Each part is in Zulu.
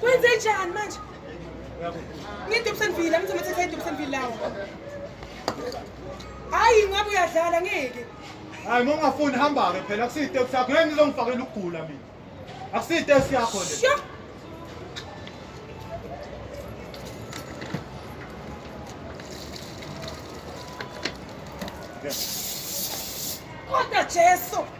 Kwenze njani manje? Ngidubsenvile, amthi mathatha idubsenvile lawo. Hayi ngabe uyadlala ngeke. Hayi uma ungafuni hamba ke phela akusiyi taxi yakho. Ngeke ngizongifakela ukugula mina. Akusiyi taxi yakho le. Sure. Kodwa Jesu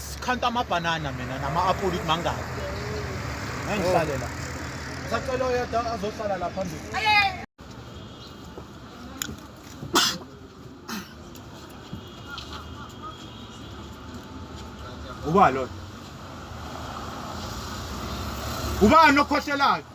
Sikhanta amabhanana mina nama-apula ukuthi mangaki. Ngihlale la. Sacela oyedwa azohlala la phambili. Ubani lona? Ubani okhohlelayo?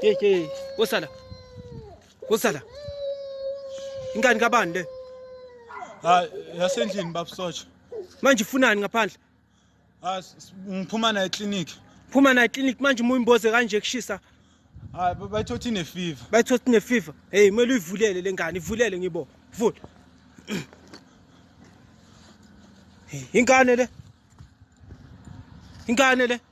Hey hey, wosala. Wosala. Ingane kabani le? Ha, yasendlini bab Socha. Manje ufunani ngaphandle? Ha, ngiphuma na eclinic. Phuma na eclinic manje uma uyimboze kanje kushisa. Ha, bayithothi ne fever. Bayithothi ne fever. Hey, kumele uyivulele lengane, ivulele ngibo. Vula. Ingane le. Ingane le.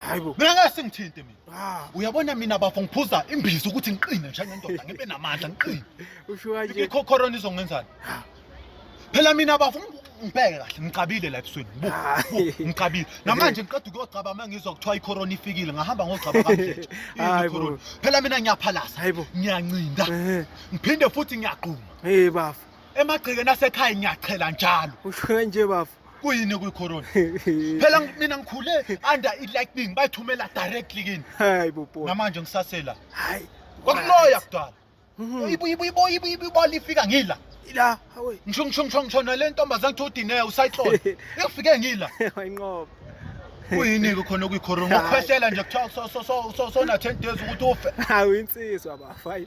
Hayibo. Mina ngeke singithinte mina. Ah, uyabona mina bafo ngiphuza imbiza ukuthi ngiqine njengendoda ngibe namandla ngiqine. Usho kanje. Ikho corona izongenzani? Phela mina bafo ngibheke kahle ngicabile la ebusweni. Ah. Ngicabile. Namanje ngiqeda ukuyogcaba uma ngizwa kuthiwa icorona ifikile ngahamba ngogcaba kamhlanje. Hayibo. Phela mina ngiyaphalasa. Hayibo. Ngiyancinda. Eh. Ngiphinde futhi ngiyagquma. Hey bafo. Emagcikeni asekhaya ngiyachela njalo. Usho kanje bafo. kuyini okuyicorona phela mina ngikhule under i-lightning bayithumela directly kini hayi bobo namanje ngisasela hayi kwakuloya kudala hmm. ibola ifika ngila ila hawe ngisho ngisho ngisho ngisho nale ntombazane kuthiwa udineye usayihlole ikufike ngila wayinqoba kuyini-ke khona okuyicorona ukukhwehlela nje kuthiwa sona-ten days ukuthi ufe hawu insizwa bafayi